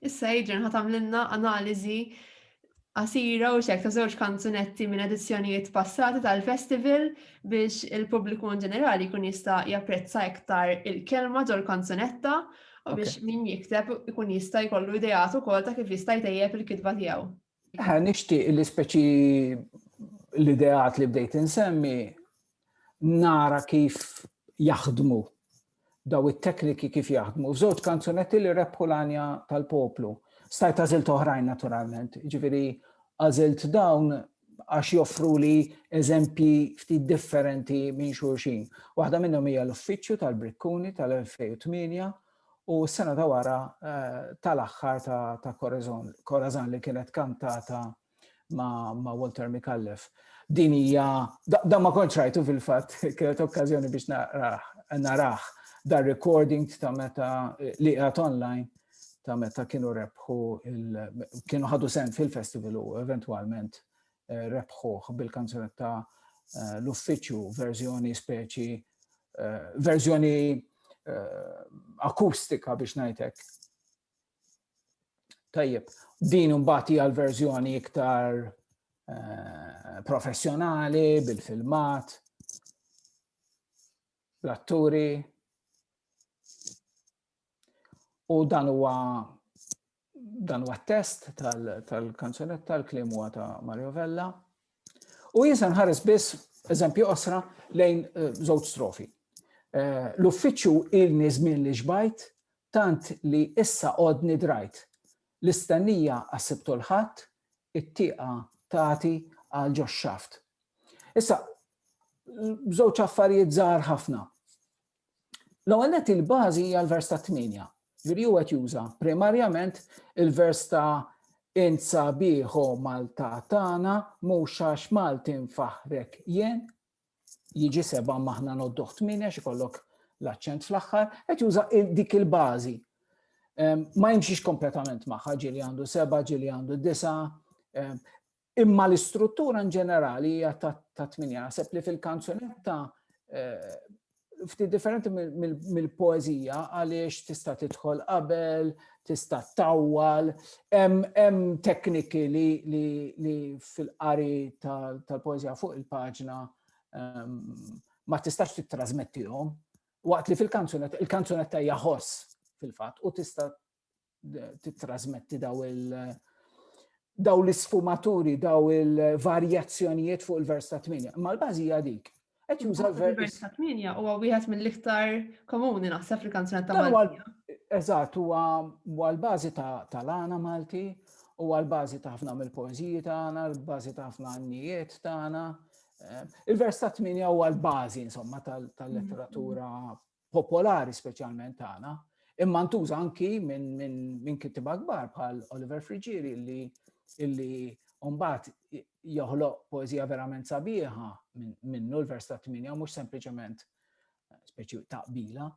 Issa Adrian ħa tagħmlilna analiżi qasira u xek ta' żewġ kanzunetti minn edizzjonijiet passati tal-festival biex il-pubbliku in ġenerali kun jista' japprezza iktar il-kelma ġol kanzunetta u biex min jikteb ikun jista' jkollu idejat ukoll ta' kif jista' jtejjeb il-kitba tiegħu. Ħa nixtieq li speċi l-ideat li bdejt insemmi nara kif jaħdmu daw it-tekniki kif jaħdmu. F'żewġ kanzunetti li rebħu l-anja tal-poplu. Stajt għażilt oħrajn naturalment, ġifieri għażilt dawn għax joffru li eżempji ftit differenti minn xulxin. Waħda minnhom hija l-uffiċċju tal-Brikkuni tal-2008 u s-sena ta' wara tal-aħħar ta' Corazon li kienet kantata ma' Walter Micallef. Din hija, dan ma kontx rajtu fil-fatt, kienet okkażjoni biex narah dar recording ta' meta li qiegħed online ta' meta kienu rebħu kienu ħadu sen fil-festival u eventwalment rebħuh bil-kanzunetta l-uffiċċju verżjoni speċi verżjoni akustika biex ngħidlek. Tajjeb, din imbagħad hija l-verżjoni iktar Eh, professjonali, bil-filmat, l-atturi. U dan huwa Dan huwa test tal-kanzunetta, l-kliem huwa ta' Mario Vella. U jinsa nħares biss eżempju osra lejn eh, żewġ strofi. Eh, l-uffiċċju ilni żmien li xbajt tant li issa qodni drajt. L-istennija għassibtu l-ħadd, it-tieqa tagħti għal ġox xaft. Issa, żewġ affarijiet żgħar ħafna. L-ewwel nett il-bażi hija l-vers ta' tmienja. Ġifieri huwa qed juża primarjament il-vers ta' insa bieħo Malta tagħna mhux għax Malti nfaħrek jien jiġi seba' maħna nodduh tmienja xi kollok l-aċċent fl-aħħar, qed juża dik il-bażi. Ma jimxix kompletament magħha ġieli għandu seba' ġieli għandu disa' Imma l-istruttura in ġenerali hija ta' tminja. Naħseb li fil-kanzunetta eh, ftit differenti mill-poezija għaliex tista' tidħol qabel, tista' tawwal, hemm tekniki li fil-qari tal-poezija fuq il-paġna ehm, ma tistax tittrasmettihom waqt li fil-kanzunetta, il-kanzunetta hija ħoss fil-fatt u tista' titrasmetti daw il- daw l-isfumaturi, daw il-varjazzjonijiet fuq il-vers ta' 8. Ma l-bażi hija dik. Qed juża l-vers ta' 8 huwa wieħed mill-iktar komuni naħseb fil-kanzunat ta' Malti. Eżatt, huwa l-bażi ta' lana Malti, huwa l-bażi ta' ħafna mill-poeżiji tagħna, l-bażi ta' ħafna għannijiet tagħna. Eh, il-vers ta' 8 huwa l-bażi insomma tal-letteratura popolari speċjalment tagħna, imma ntuża anki minn min, min kittiba kbar bħal Oliver Frigieri li illi Umbat joħloq poezija verament sabiħa minnu l-vers ta' 8 mhux sempliċement eh, speċi taqbila.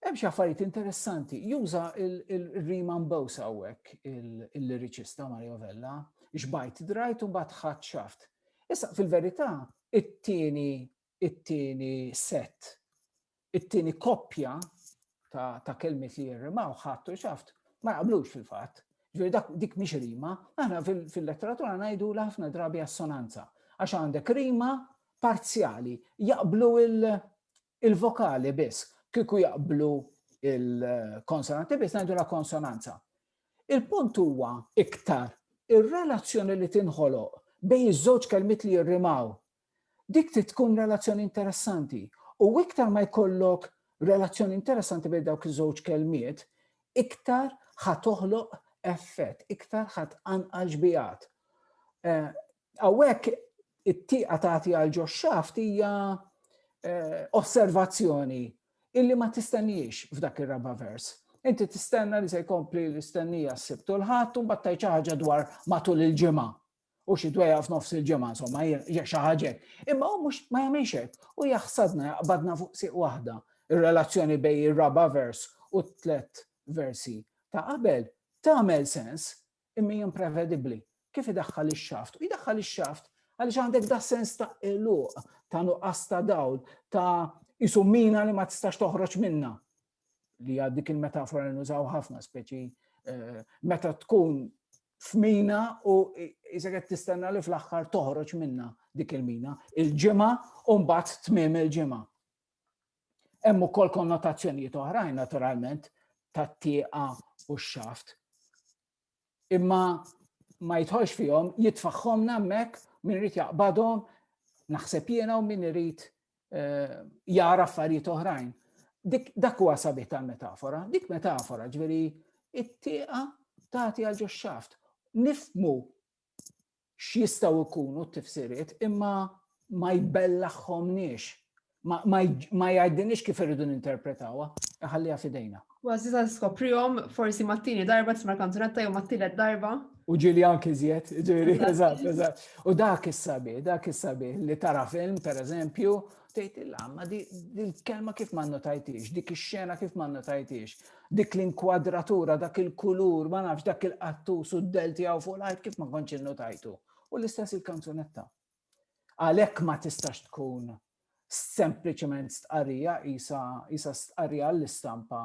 Hemm xi affarijiet interessanti, juża il-rima mbewsa hawnhekk il-liriċista Mario Vella, xbajt drajt u mbagħad ħadd xaft. Issa fil-verità, it-tieni it-tieni set, it-tieni koppja ta', ta kelmiet li jirrimaw ħadd u xaft ma jaqblux fil-fatt. Ġifieri dak dik mhix rima, aħna fil-letteratura ngħidu l ħafna drabi assonanza għax għandek rima parzjali, jaqblu il-vokali biss, kieku jaqblu il-konsonanti biss ngħidu la konsonanza. Il-punt huwa iktar ir-relazzjoni li tinħoloq bejn iż-żewġ kelmiet li jirrimaw Dik trid tkun relazzjoni interessanti. U iktar ma jkollok relazzjoni interessanti bejn dawk iż-żewġ kelmiet, iktar ħa toħloq effett, iktar ħa tqanqal xbijat. Eh, hawnhekk it-tieqa tagħti għal ġo xaft hija eh, osservazzjoni illi ma tistenniex f'dak ir-raba' vers. Inti tistenna li se jkompli l-istennija s-sibt u l-ħadd u mbagħad ħaġa dwar matul il-ġimgħa. u xi dwejja f'nofs il-ġimgħa insomma hija xi ħaġa. Imma hu mhux ma jagħmilx hekk u jaħsadna jaqbadna fuq siq waħda ir-relazzjoni bejn ir-raba' vers u t-tlet versi ta' qabel tagħmel sens imma imprevedibbli kif idaħħal ix-xaft. U jdaħħal ix-xaft għaliex għandek da sens ta' eluq, ta' nuqqas ta' dawl, ta' isumina li ma tistax toħroġ minna. li għad dik il-metafora nużaw ħafna speċi eh, meta tkun f'mina u jisa qed tistenna li fl-aħħar toħroġ minna dik il-mina il-ġimgħa u mbagħad tmiem il-ġimgħa. Hemm ukoll konnotazzjonijiet oħrajn naturalment tat-tieqa u x-xaft. imma ma jitħolx fihom, jitfaħħomna hemmhekk min irid jaqbadhom, naħseb jiena u min irid eh, jara affarijiet oħrajn. Dak huwa sabiħ tal-metafora, dik metafora ġveri it-tieqa tagħti għal ġoxxaft. Nifmu x'jistgħu jkunu t-tifsiriet imma ma jbellaħħomniex ma jgħidinix kif irridu ninterpretawha, ħalliha fidejna. Għazzi ta' skoprihom forsi mat-tieni darba tisma' kanzunetta jew mat-tielet darba. U ġili anki żjed, ġili, eżatt, eżatt. U dak is-sabi, dak is-sabi li tara film, per eżempju, Tgħidilha, ma di l-kelma kif ma nnotajtix, dik ix-xena kif ma nnotajtix, dik l-inkwadratura, dak il-kulur, ma nafx dak il-qattus u d-del tiegħu fuq l-art kif ma kontx innotajtu. U l-istess il-kanzunetta. Għalhekk ma tistax tkun sempliċement stqarrija isa stqarrija l-istampa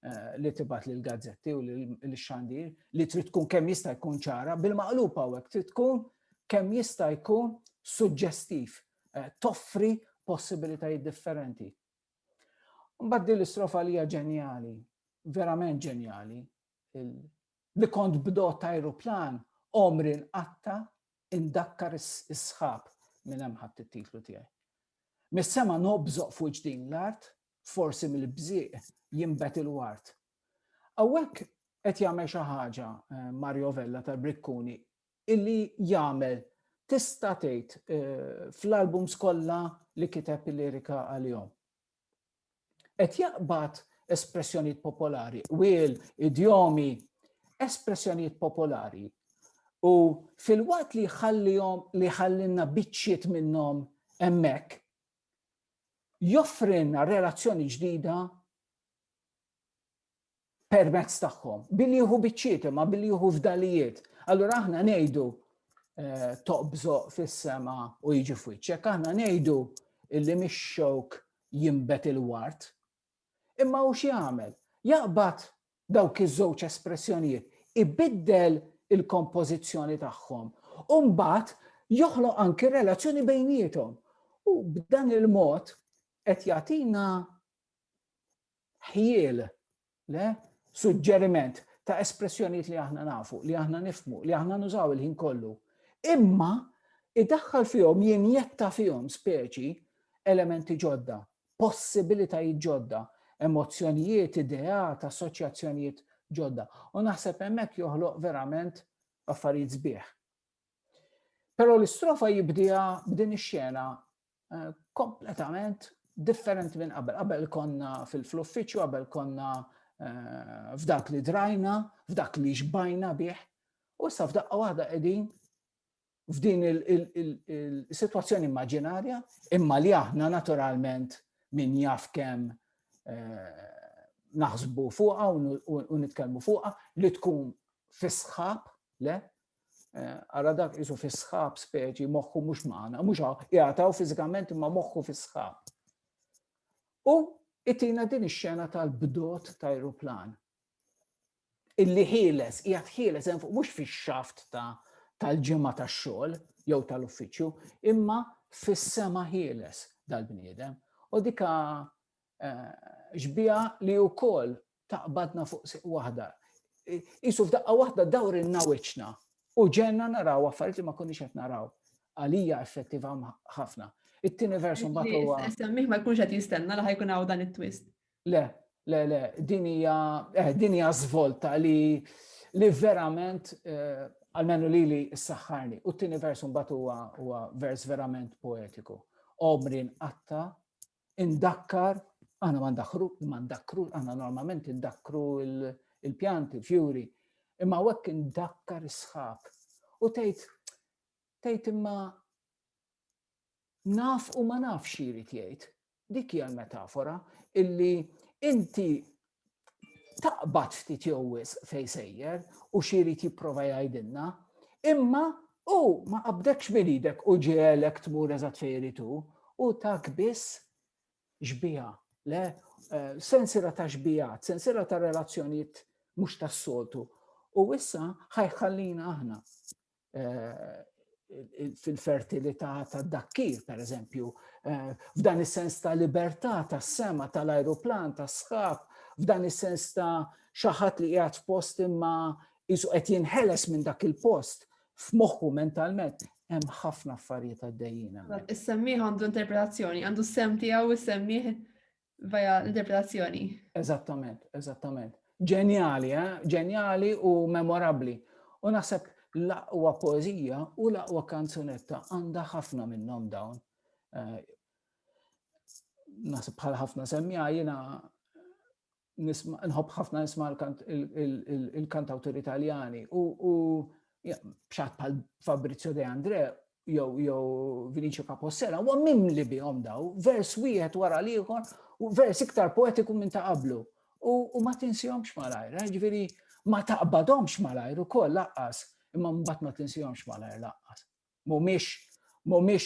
Eh, li tibat li l-gazzetti u li xandir li trid tkun kemm jista' jkun ċara bil-maqlub hawnhekk trid tkun kemm jista' jkun suġġestiv, eh, toffri possibilitajiet differenti. Mbagħad din l-istrofa li hija ġenjali, verament ġenjali, li kont bdot ta' aeroplan omri nqatta indakkar is-sħab minn hemm ħadd it-titlu tiegħi. Mis-sema nobżoq fuq ġdin l-art forsi mill-bżieq jinbet il-ward. Hawnhekk qed jagħmel xi ħaġa eh, Mario Vella tal-Brikkuni illi jagħmel tista' tgħid eh, fl-albums kollha li kiteb il-lirika għalihom. Qed jaqbad espressjonijiet popolari, wil, idjomi, espressjonijiet popolari. U fil-waqt li jħallihom li ħallinna biċċiet minnhom hemmhekk joffrilna relazzjoni ġdida permezz tagħhom, billi jieħu biċċiet imma billi jieħu fdalijiet. Allura aħna ngħidu eh, toqbżo fis-sema u jiġi f'wiċċek, aħna ngħidu illi mix-xewk jimbet il-wart, Imma hu x'jagħmel? Jaqbad dawk iż-żewġ espressjonijiet, ibiddel il-kompożizzjoni tagħhom u mbagħad joħloq anki relazzjoni bejniethom. U b'dan il-mod qed jagħtina ħjiel le suġġeriment ta' espressjonijiet li aħna nafu, li aħna nifmu, li aħna nużaw il-ħin kollu. Imma idaħħal fihom jinjetta fihom speċi elementi ġodda possibilitajiet ġodda, emozzjonijiet, ideat, assoċjazzjonijiet ġodda. U naħseb hemmhekk joħloq verament affarijiet sbieħ. Però l-istrofa jibdija b'din ix-xena eh, kompletament differenti minn qabel. Qabel konna fil-uffiċċju, qabel konna eh, f'dak li drajna, f'dak li xbajna bih, u issa f'daqqa waħda qegħdin f'din il-situazzjoni immaġinarja, imma li aħna naturalment min jaf kemm eh, naħsbu fuqa u nitkellmu fuqa li tkun fisħab, le? Eh, ara dak jisu fisħab speċi moħħu mhux magħna, mhux jgħataw fiżikament imma moħħu fisħab. U itina din ix-xena tal-bdot ta' aeroplan. illi ħieles, qiegħed ħieles hemm fuq mhux fix-xaft tal-ġimgħa tax-xogħol jew tal-uffiċċju, imma fis-sema ħieles dal-bniedem. U dika ġbija eh, li wkoll taqbadna fuq siq waħda. Isu f'daqqa waħda dawr in-nawiċna u ġenna naraw affarijiet li ma konniex qed naraw. Għalija effettiva ħafna. It-tieni versu mbagħad huwa. Semmih ma jkunx qed jistenna li ħajkun hawn dan it-twist. Le, le, le, din hija eh, din hija żvolta li li verament eh, għalmenu li li s-saxħarni. U t-tini vers mbagħad huwa huwa vers verament poetiku. Omri nqatta, indakkar, aħna ma ndakkru, ma ndakkru, aħna normalment indakkru il-pjanti, il-fjuri, imma wekk indakkar is-sħab. U tgħid tgħid imma naf u ma naf xi jrid jgħid. Dik hija l-metafora illi inti taqbad ftit jew wis fej sejjer u xi jrid jipprova jgħidilna, imma u ma qabdekx minn idek u ġielek tmur eżatt fejn irid u tak biss xbija, le eh, sensira ta' xbijat, sensira ta' relazzjonijiet mhux tas-soltu. U issa ħajħallina aħna fil-fertilità tad-dakkir, per eżempju, f'dan is-sens ta' libertà tas-sema tal-ajruplan, tas-sħab, f'dan is-sens ta' xaħat li qiegħed f'post imma jisu qed jinħeles minn dak il-post f'moħħu mentalment hemm ħafna affarijiet għaddejjin. Is-semmiħ għandu interpretazzjoni, għandu s-sem tiegħu is-semmiħ Via l-interpretazzjoni. Eżattament, eżattament. Ġenjali, eh? Ġenjali u memorabli. U naħseb l-aqwa poezija u l-aqwa kanzunetta għandha ħafna minnhom dawn. Eh, naħseb bħal ħafna semmija jiena nħobb ħafna nisma il-kantawtur italjani u bxat bħal Fabrizio De Andre jew jew Vinicio Capossela huwa mimli bihom daw, vers wieħed wara l-ieħor u vers iktar poetiku minn ta' qablu. U ma tinsihomx malajr, eh, ġifieri ma taqbadhomx malajr ukoll laqqas, imma mbagħad ma tinsihomx malajr laqqas. Mhumiex mhumiex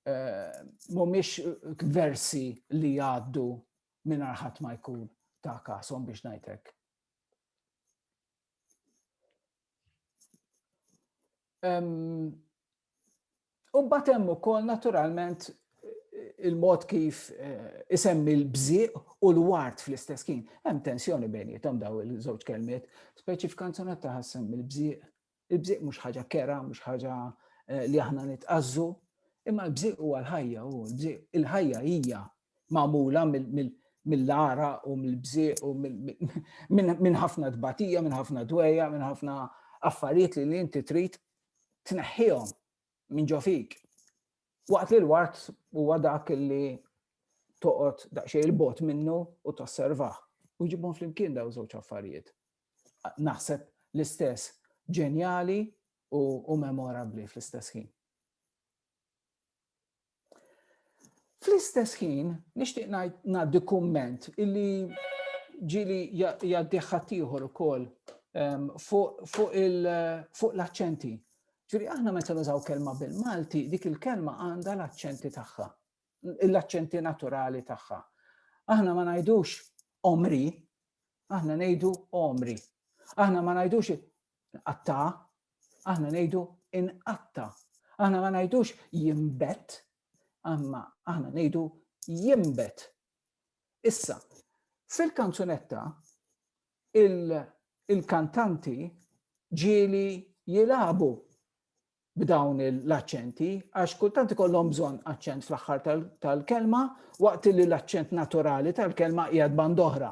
eh, mhumiex versi li jgħaddu minn arħat ma jkun ta' kasom biex ngħidlek. U mbagħad hemm ukoll naturalment il-mod kif eh, isemmi l-bżieq u l-wart fl-istess kien. Hemm tensjoni bejnietom daw il-żewġ kelmiet, speċi f'kanzunet ta' ħassem il-bżieq. Il-bżieq mhux ħaġa kera, mhux ħaġa eh, li aħna nitqazzu, imma l-bżieq huwa l-ħajja u l-bżieq il-ħajja hija magħmula mill-ara u mill-bżieq u minn ħafna tbatija, minn ħafna dweja, minn ħafna affarijiet li inti trid tneħħihom minn ġo fik. Waqt li l-wart huwa dak li toqgħod daqsxejn il-bot minnu u tosservah. U ġibhom flimkien daw żewġ affarijiet. Naħseb l-istess ġenjali u memorabli fl-istess ħin. Fl-istess ħin, nixtieq ngħaddi kumment illi ġili jgħaddi ħaddieħor ukoll ehm, fuq l-aċċenti. Ġifieri aħna meta nużaw kelma bil-Malti, dik il-kelma għandha l-aċċenti tagħha, l-aċċenti naturali tagħha. Aħna ma ngħidux omri, aħna ngħidu omri. Aħna ma ngħidux qatta, aħna ngħidu inqatta. Aħna ma ngħidux jimbet, għamma aħna ngħidu jimbet. Issa, fil-kanzunetta il-kantanti ġieli jilabu b'dawn l-aċċenti, għax kultant ikollhom bżonn aċċent fl-aħħar tal-kelma, waqt li l-aċċent naturali tal-kelma qiegħed band oħra.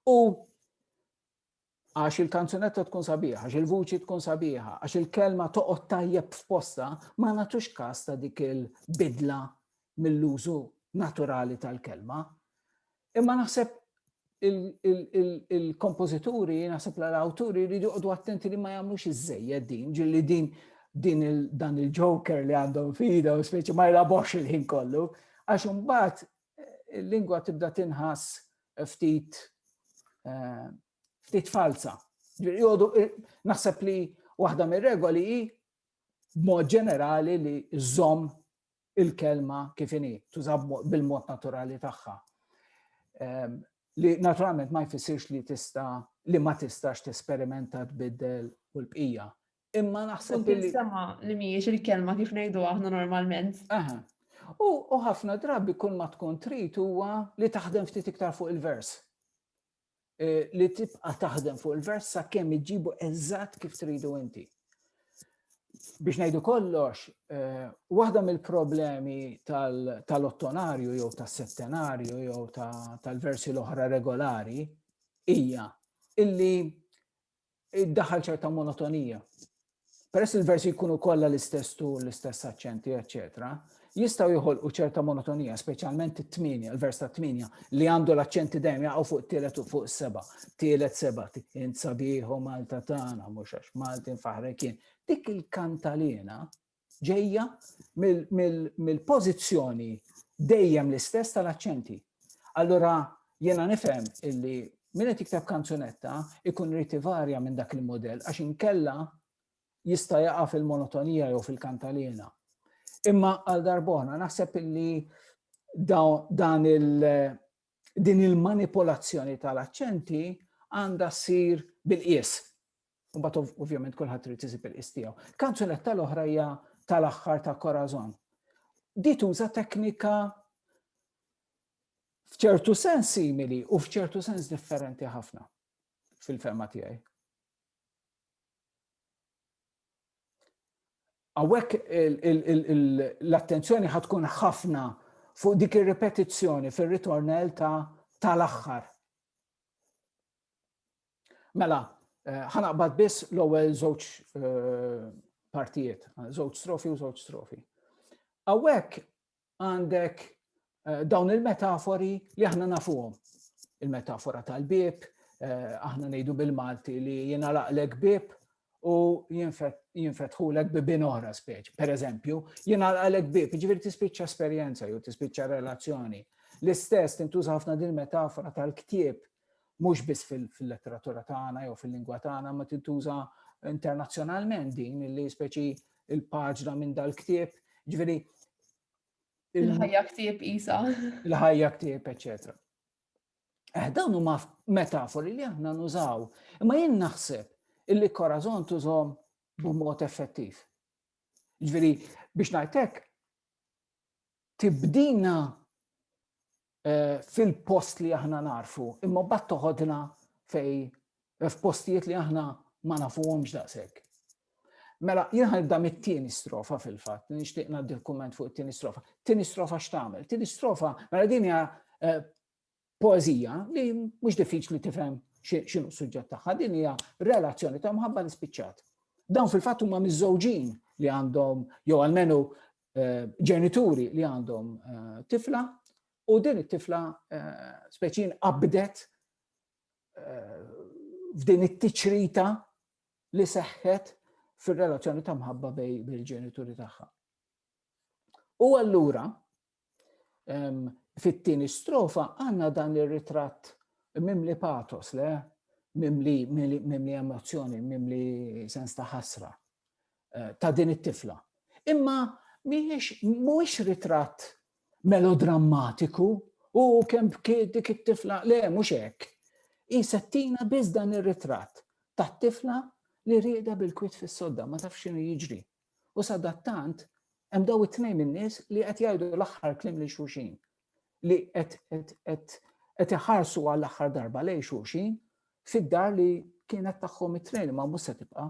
U għax il-kanzunetta tkun sabiħa, għax il-vuċi tkun sabiħa, għax il-kelma toqgħod tajjeb f'posta, ma nagħtux każ ta' dik il-bidla mill-użu naturali tal-kelma. Imma naħseb il-kompożituri, naħseb l-awturi li joqdu attenti li ma jagħmlux iż-żejjed din, ġilli din din dan il-joker li għandhom fida u speċi ma jlabox il-ħin kollu, għax imbagħad il-lingwa tibda tinħass ftit ftit falza. Naħseb li waħda mir-regoli hi b'mod ġenerali li żomm il-kelma kif inhi, tuża bil-mod naturali tagħha. Ehm, li naturalment ma jfissirx li tista' li ma tistax tesperimenta tbiddel u l-bqija. Imma naħseb li. Sema li mhijiex il-kelma kif ngħidu aħna normalment. Aha. U ħafna drabi kull ma tkun trid huwa li taħdem ftit iktar fuq il-vers. E, li tibqa taħdem fuq il-vers sa' kemm iġibu eżatt kif tridu inti. Biex ngħidu kollox, e, waħda mill-problemi tal-ottonarju jew tas-settenarju jew tal-versi l-oħra regolari hija illi iddaħħal ċerta monotonija. Peress il-versi jkunu kollha l-istess tu, l-istess aċċenti, eċċetera, jistgħu joħolqu ċerta monotonija, speċjalment it-tminja, il-vers ta' tminja, li għandu l-aċċenti dejjem jaqgħu fuq tielet u fuq seba, tielet seba, int sabiħu Malta tagħna, mhux għax Malti nfaħrek kien. Dik il-kantalina ġejja mill-pożizzjoni dejjem l-istess tal-aċċenti. Allura jiena nifhem illi min qed jikteb kanzunetta ikun rrid ivarja minn dak il-modell għax inkella jista' jaqa' fil-monotonija jew fil-kantalina. Imma għal darbona naħseb illi dan il din il-manipolazzjoni tal-aċċenti għandha ssir bil-qies. U bat ovvjament kulħadd trid isib il-qis tiegħu. Kanzunetta l-oħra hija tal-aħħar ta' Corazon. Di tuża teknika f'ċertu sens simili u f'ċertu sens differenti ħafna fil-fema tiegħi. Għawek l-attenzjoni ħatkun ħafna fuq dik ir-repetizzjoni fir-ritornell ta' tal-aħħar. Mela, eh, ħanaqbad biss l-ewwel żewġ eh, partijiet, żewġ strofi u żewġ strofi. Awek għandek eh, dawn il-metafori li aħna nafuhom. Il-metafora tal-bib, aħna ngħidu bil-Malti li jiena laqlek bib u jinfetħulek bibin oħra speċ. Per eżempju, jiena laqlek bib, ġifieri tispiċċa esperjenza jew tispiċċa relazzjoni. L-istess tintuża ħafna din metafora tal-ktieb Mhux biss fil-letteratura tagħna jew fil-lingwa tagħna ma tintuża internazzjonalment din li speċi il-paġna minn dal-ktieb, ġifieri il-ħajja ktieb isa. Il-ħajja ktieb, eċetera. Eh, dawn huma metafori li aħna nużaw, imma jien naħseb illi korazon tużhom b'mod effettiv. Ġveri, biex najtek, tibdina eh, fil-post li aħna narfu, imma bat toħodna fej eh, f'postijiet li aħna ma nafuhomx daqshekk. Mela, jien ħanibda mit-tieni strofa fil-fatt, nixtieq ngħaddi l-kumment fuq it-tieni strofa. Tieni strofa x'tagħmel? Tieni strofa, mela din hija eh, poezija li mhux diffiċli tifhem x'inhu suġġett tagħha, din hija relazzjoni ta' mħabba nispiċċat. Dawn fil-fatt huma miżżewġin li għandhom jew almenu eh, ġenituri li għandhom eh, tifla u din it-tifla eh, speċin qabdet f'din it-tiċrita li seħħet fir-relazzjoni ta' mħabba bej bil-ġenituri tagħha. U allura ehm, fit-tieni strofa għandna dan ir-ritratt mimli patos le mimli, mimli emozzjoni, mimli sens ta' ħasra. ta' din it-tifla. Imma mhijiex mhuwiex ritratt melodrammatiku u kemm bkiet dik it-tifla le mhux hekk. Hi settina biss dan ir-ritratt tat-tifla li rieda bil-kwit fis-sodda ma tafx x'inhu jiġri. U sadattant hemm daw it-tnejn in-nies li qed jgħidu l-aħħar klim lil xulxin li qed iħarsu għall-aħħar darba lejn xulxin fid-dar li kienet tagħhom it-tnejn ma mhux se tibqa'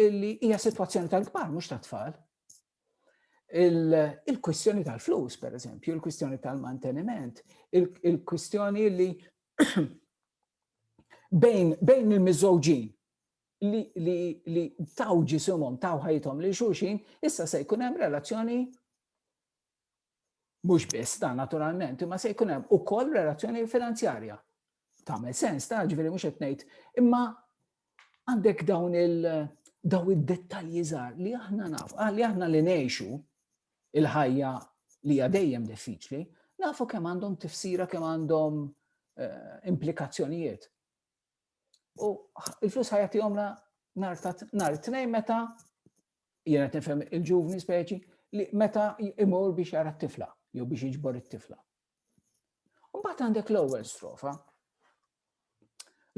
illi hija sitwazzjoni tal-kbar mhux tat-tfal. Il-kwistjoni tal-flus, per eżempju, il-kwistjoni tal-manteniment, il-kwistjoni li bejn bejn il-miżżewġin li li li taw ġisimhom taw ħajthom li xulxin, issa se jkun hemm relazzjoni Mhux biss dan naturalment, imma se jkun hemm ukoll relazzjoni finanzjarja. Tagħmel sens ta' ġifieri mhux qed ngħid, imma għandek dawn il daw id-dettalji żgħar li aħna naf, ah, li aħna li ngħixu il-ħajja li hija dejjem diffiċli, nafu kemm għandhom tifsira kemm għandhom eh, implikazzjonijiet. U il-flus ħajati għomna nar ta' nar tnejn meta jena tifhem il-ġuvni speċi li meta imur biex jara t-tifla jew biex iġbor it-tifla. Mbagħad għandek l-ewwel strofa.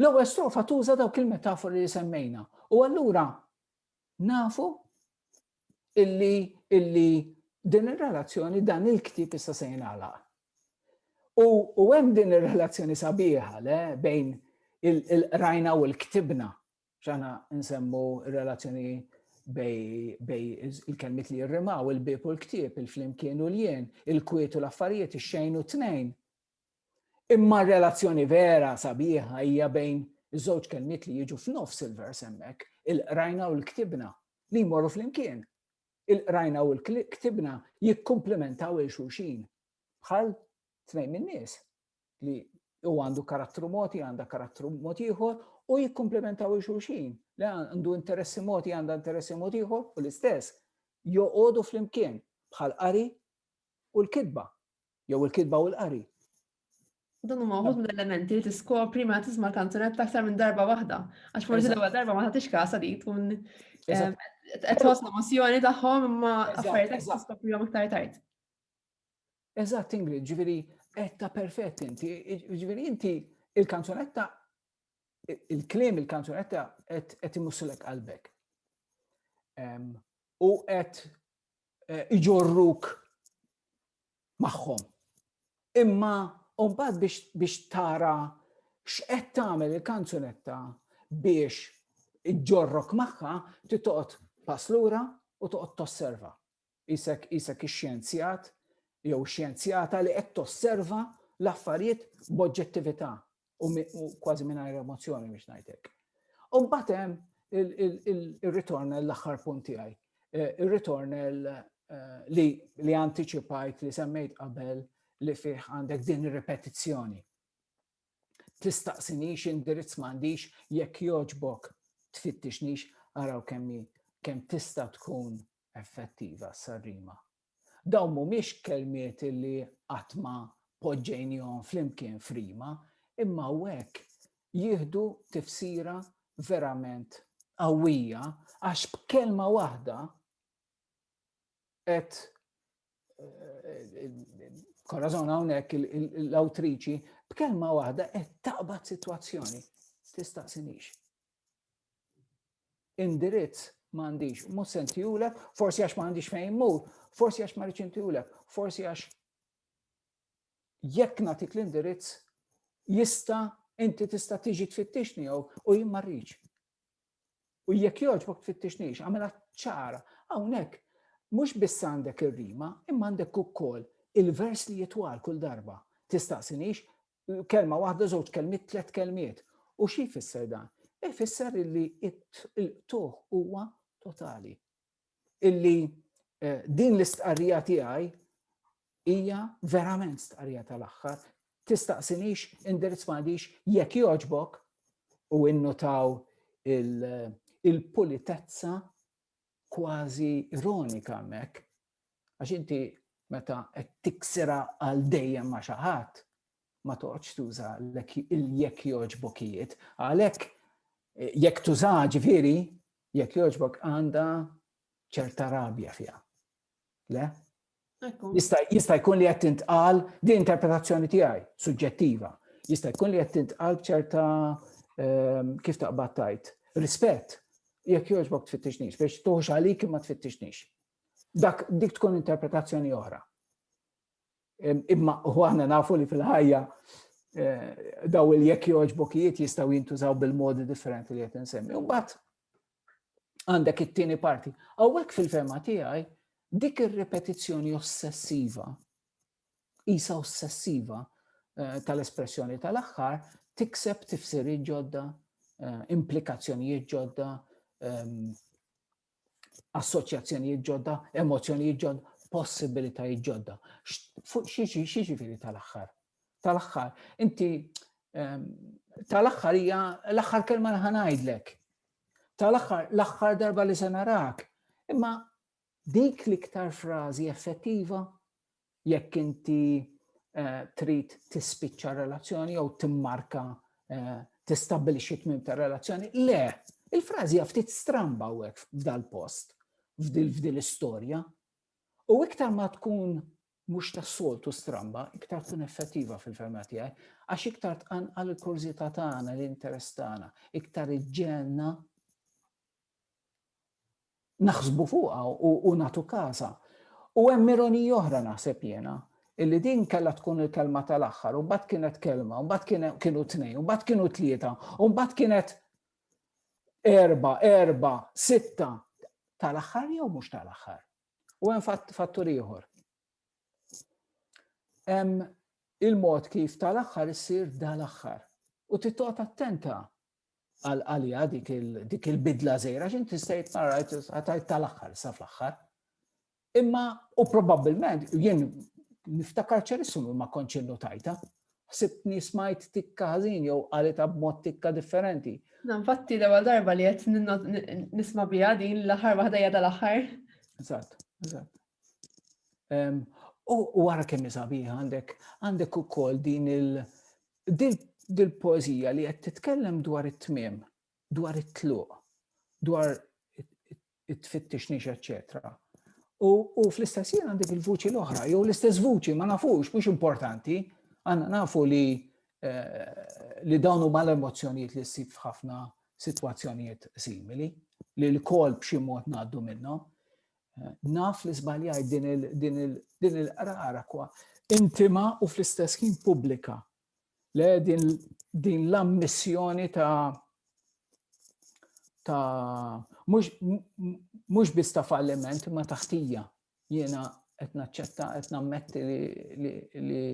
L-ewwel strofa tuża dawk il-metafori li semmejna u allura Nafu illi illi din ir-relazzjoni dan il-ktieb issa se jingħalaq. U, u hemm din ir-relazzjoni sabiħa le bejn il-qrajna u l-ktibna ċana nsemmu relazzjoni bej il-kelmit li jirrimaw, il-bib u l-ktib, il-flimkien u l-jien, il-kwiet u l-affarijiet, il-xejn u t-tnejn. Imma r-relazzjoni vera sabiħa hija bejn iż-żewġ kelmiet li jiġu f'nofs il-vers hemmhekk, il-qrajna u l-ktibna, li jmorru flimkien. Il-qrajna u l-ktibna jikkumplimentaw il xulxin bħal tnejn min-nies li u għandu karattru moti, għanda karattru moti ieħor u jikkomplementaw il xulxin li għandu interessi moti, għanda interessi moti ieħor u l-istess joqogħdu flimkien bħal qari u l-kidba jew il-kitba u l-qari. Dan huma wħud mill-elementi li tiskopri ma tisma' kanzunetta aktar minn darba waħda. Għax forsi l-ewwel darba ma tagħtix kasa li tkun eh, qed tħoss l-emozzjoni tagħhom imma affarijiet qed tiskoprihom iktar tard. Eżatt, Ingrid, ġifieri qed ta' perfett inti, ġifieri inti il-kanzunetta il-klim il-kanzunetta qed imussilek qalbek. U qed eh, iġorruk magħhom. Imma mbagħad biex, biex tara x'qed tagħmel il-kanzunetta biex iġġorrok magħha titoqgħod pass lura u toqgħod tosserva. Isek isek ix-xjenzjat jew xjenzjata li qed tosserva l-affarijiet b'oġġettività u kważi mingħajr emozzjoni biex ngħidlek. U mbagħad hemm il-ritornel l-aħħar punt tiegħi. Eh, il-ritornel eh, li li anticipajt li semmejt qabel li fih għandek din ir-repetizzjoni. Tistaqsinix indirizz m'għandix jekk joġbok tfittixnix araw kemmi kemm tista' tkun effettiva s-sarrima Dawn mhumiex kelmiet li qatt ma poġġejnihom flimkien f'rima, imma hawnhekk jieħdu tifsira verament qawwija għax b'kelma waħda qed Korazon hawnhekk l-awtriċi b'kelma waħda qed taqbad sitwazzjoni. Tistaqsinix. indirizz m'għandix, mhux se ntihulek, forsi għax m'għandix fejn immur, forsi għax ma rridx ntihulek, forsi għax jekk nagħtik l-indirizz jista' inti tista' tiġi tfittixni jew u jien ma rridx. U jekk jogħġbok tfittixnix, għamela ċara, hawnhekk mhux biss għandek ir-rima, imma għandek ukoll il-vers li jitwal kull darba. Tistaqsinix Kelma waħda, żewġ kelmiet, tliet kelmiet. U xi jfisser dan? Ifisser illi il-qtuħ huwa totali. Illi eh, din l-istqarrija tiegħi hija verament stqarrija tal-aħħar. Tistaqsinix, indirizz m'għandix jekk joġbok u innutaw il-pulitezza kważi ironika mek Għax inti meta qed tiksira għal dejjem ma' xi ħadd, ma toqgħodx tuża jekk jogħġbokijiet. Għalhekk eh, jekk tuża ġifieri, jekk jogħġbok għandha ċerta rabja fiha. Le? Jista' jkun li qed tintqal di interpretazzjoni tiegħi, suġġettiva. Jista' jkun li qed tintqal b'ċerta ehm, kif taqbad tajt. Rispett, jekk jogħġbok tfittixnix, biex tuħx għalik ma tfittixnix. Dak dik tkun interpretazzjoni oħra. Imma u aħna nafu li fil-ħajja eh, daw il-jekk joġbokijiet jistaw jintużaw bil-modi differenti li qed insemmi. Mbagħad għandek it-tieni parti. Hawnhekk fil-fema tiegħi dik ir-repetizzjoni ossessiva, isa ossessiva eh, tal-espressjoni tal-aħħar, tikseb tifsiri ġodda, eh, implikazzjonijiet ġodda, ehm, assoċjazzjonijiet ġodda, emozzjonijiet ġodda, possibilitajiet ġodda. Xieġifiri tal-axħar? Tal-axħar, inti ehm, tal-axħar hija l-axħar kelma li ħanajdlek. Tal-axħar, l-axħar darba li se narak. Imma dik l-iktar frażi effettiva jekk inti eh, trid tispiċċa relazzjoni jew timmarka eh, tistabbilixxi tmim ta' relazzjoni. Le, il-frażi ftit stramba hekk f'dal-post, f'dil istorja U iktar ma tkun mhux tas-soltu stramba, iktar tkun effettiva fil-ferma tiegħi, għax iktar tqanqal il-kurżità tagħna, l-interess tagħna, iktar iġġelna naħsbu fuqha u nagħtu każha. U hemm ironija oħra naħseb jiena, illi din kellha tkun il-kelma tal-aħħar, u mbagħad kienet kelma, u mbagħad kienu tnejn, u mbagħad kienu tlieta, u mbagħad kienet erba, erba, sitta, tal-aħħar jew mhux tal-aħħar. U hemm fattur ieħor. Hemm il-mod kif tal-aħħar issir dal-aħħar. U titqgħod attenta għalija dik il-bidla zejra, xin tista' jitmarajt għatajt tal-axħar, sa fl-axħar. Imma, u probabilment, jien niftakar ċerissum ma konċin notajta, ħsibtni smajt tikka ħażin jew għalita b'mod tikka differenti. Nfatti l ewwel darba li qed nisma' biha din l-aħħar waħda jada l-aħħar. Eżatt, eżatt. U wara kemm sabiħ għandek għandek ukoll din il dil poezija li qed titkellem dwar it-tmiem, dwar it-tluq, dwar it-tfittix nix, eċċetera. U fl-istess jien għandek il-vuċi l-oħra, jew l-istess vuċi, ma nafux, mhux importanti, għanna nafu li eh, li dawnu mal emozjonijiet li ssib f'ħafna situazzjonijiet simili, li l-kol b'xi mod ngħaddu minnhom. Naf li żbaljajt din il-qrara kwa intima u fl-istess ħin pubblika. Le din l-ammissjoni ta' ta' mhux biss ta' falliment ma taħtija jiena qed naċċetta qed nammetti li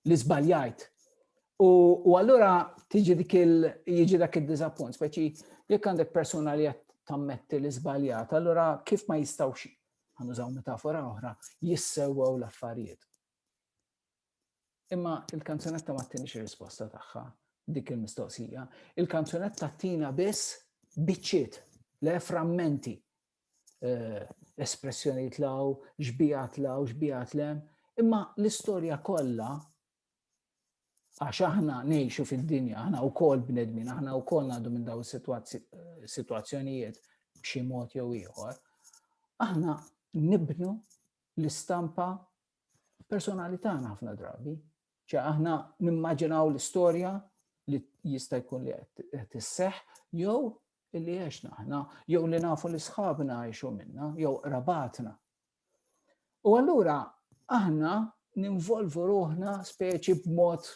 li żbaljajt. U allura tiġi dik il jiġi dak id-diżappunt, speċi jekk għandek persuna li qed tammetti li żbaljat, allura kif ma jistgħux ħanużaw metafora oħra, jissewwew l-affarijiet. Imma il-kanzunetta ma tinix risposta tagħha dik il-mistoqsija. Il-kanzunetta tina biss biċċiet, le frammenti eh, espressjoni tlaw, xbija tlaw, xbija tlem, imma l-istorja kollha għax aħna nejxu fid-dinja, aħna u kol bnedmin, aħna u kol għadu minn daw situazzjonijiet b'xi mod jew ieħor, aħna nibnu l-istampa personali tagħna ħafna drabi. ċe aħna nimmaġinaw l-istorja li jista' jkun li qed isseħ jew li għexna aħna, jew li nafu li sħabna għexu minna, jew rabatna. U allura aħna ninvolvu ruħna speċi b'mod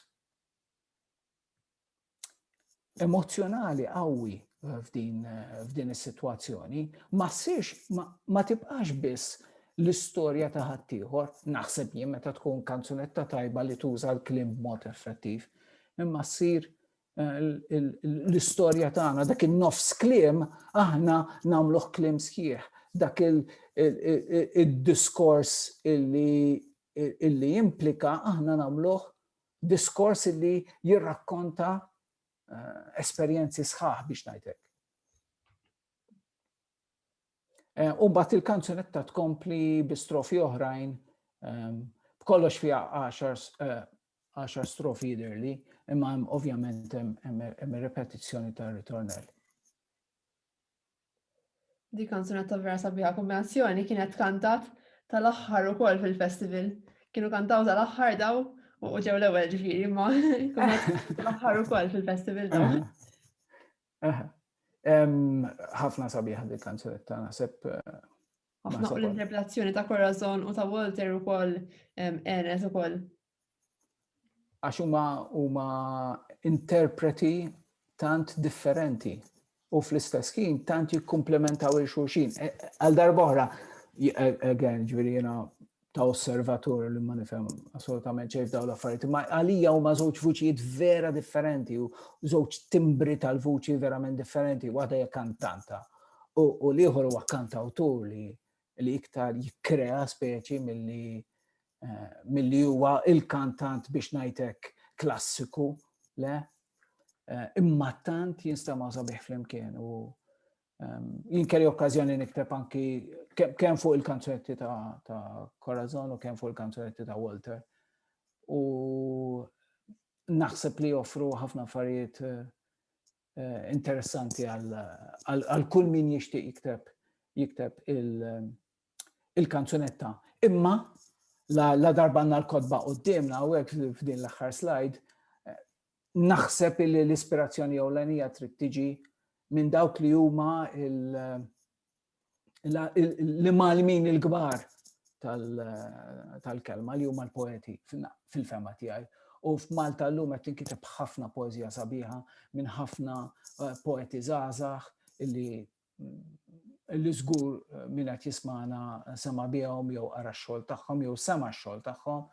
emozjonali qawwi f'din is-sitwazzjoni ma ssirx ma tibqax biss l-istorja ta' ħaddieħor, naħseb jien meta tkun kanzunetta tajba li tuża l-klim b'mod effettiv, imma ssir eh, l-istorja tagħna dak in-nofs klim aħna nagħmluh klim sħiħ, dak il-diskors illi illi implika aħna nagħmluh diskors li jirrakkonta eh, esperjenzi sħaħ biex ngħidlek. Eh, u mbagħad il-kanzunetta tkompli bi strofi oħrajn ehm, b'kollox fiha 10 eh, strofi jidirli, imma ovvjament hemm repetizzjoni tar-ritornell. Di kanzunetta vera sabiħa kombinazzjoni kienet kantat tal-aħħar ukoll fil-festival. Kienu kantaw tal-aħħar daw u ġew l-ewwel ġifieri ma tal-aħħar ukoll fil-festival daw. Ħafna sabiħa di kanzunetta naħseb eh, Ħafna u l-interpretazzjoni ta' Corazon u ta' Walter ukoll enet ukoll għax huma huma interpreti tant differenti u fl-istess ħin tant jikkumplementaw il xulxin. E, e, għal darbohra, e, again, ġviri jena ta' osservatur li ma nifhem assolutament ċejf daw l-affarijiet, ma għalija huma żewġ vuċijiet vera differenti u żewġ timbri tal-vuċi verament differenti, waħda hija kantanta u l-ieħor huwa kantawtur li li iktar jikkrea speċi milli eh, milli huwa il-kantant biex ngħidlek klassiku, le? Eh, imma tant jinstema' sabiħ flimkien u ehm, jinkeri okkazjoni nikteb anki kemm fuq il-kanzunetti ta' Corazon u kemm fuq il-kanzunetti ta' Walter. U naħseb li joffru ħafna affarijiet eh, eh, interessanti għal kull min jixtieq jikteb jikteb il-kanzunetta. Imma la darba għandna l-kodba qudiemna u hekk f'din l-aħħar slide eh, naħseb li l-ispirazzjoni ewlenija trid tiġi minn dawk li huma li malmin il-gbar tal-kelma li huma l-poeti fil-fema tiegħi. U f'Malta l-lum qed tinkiteb ħafna poezija sabiħa minn ħafna eh, poeti żgħażagħ illi illi żgur eh, minn qed jismana sema bihom jew ara x-xogħol tagħhom jew sema x-xogħol tagħhom.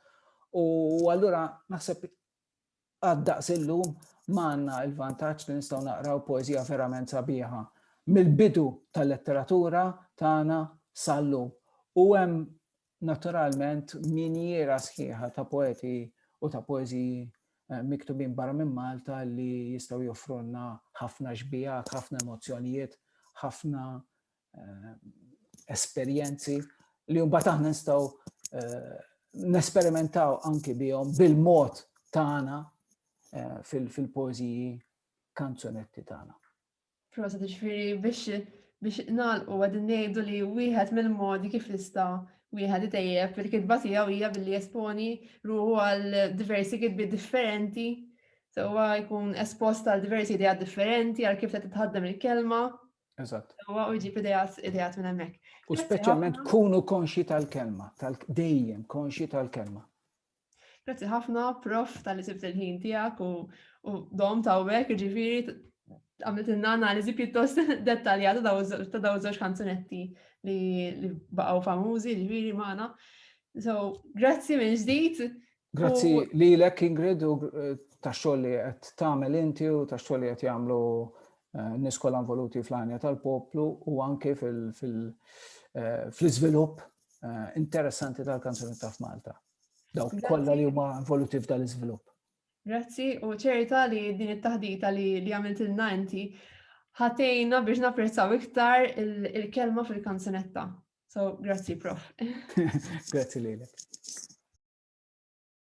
U allura naħseb għad-daqs illum ma għandna l-vantaġġ li nistgħu naqraw poeżija verament sabiħa mill-bidu tal-letteratura tagħna sal-lum. U hemm naturalment minjiera sħiħa ta' poeti u ta' poeżiji eh, miktubin barra minn Malta li jistgħu joffrulna ħafna xbijak, ħafna emozzjonijiet, ħafna eh, esperjenzi li mbagħad aħna nistgħu eh, nesperimentaw anki bihom bil-mod tagħna eh, fil-poeżiji kanzunetti tagħna. Prosa ġifieri biex biex nalqu għadin ngħidu li wieħed mill-modi kif nista' wieħed itejjeb il-kitba tiegħu hija billi esponi ruħu għal diversi kitbi differenti Sewa jkun espost għal diversi idea differenti, għal kif se titħaddem il-kelma, Eżatt. Huwa u jġib idejat idejat minn hemmhekk. U speċjalment kunu konxi tal-kelma, tal-dejjem konxi tal-kelma. Grazzi ħafna, prof, tal-li sibt il-ħin tijak u dom ta' wek, ġifiri, għamilt inna analizi pjuttost dettaljata ta' daw zoċ kanzunetti li baqaw famużi, ġifiri maħna. So, grazzi minn ġdijt, Grazzi lilek Ingrid u tax-xogħol li qed tagħmel inti u tax-xogħol li qed jagħmlu eh, nies kollha involuti fl-għanja tal-poplu u anke eh, fl-iżvilupp eh, interessanti tal-kanzuni ta' f'Malta. Dawk kollha li huma involuti f'dan l-iżvilupp. Grazzi u ċerta li din it-taħdita li għamilt ilna inti ħatejna biex napprezzaw iktar il-kelma fil-kanzunetta. So, grazzi, prof. grazzi lilek.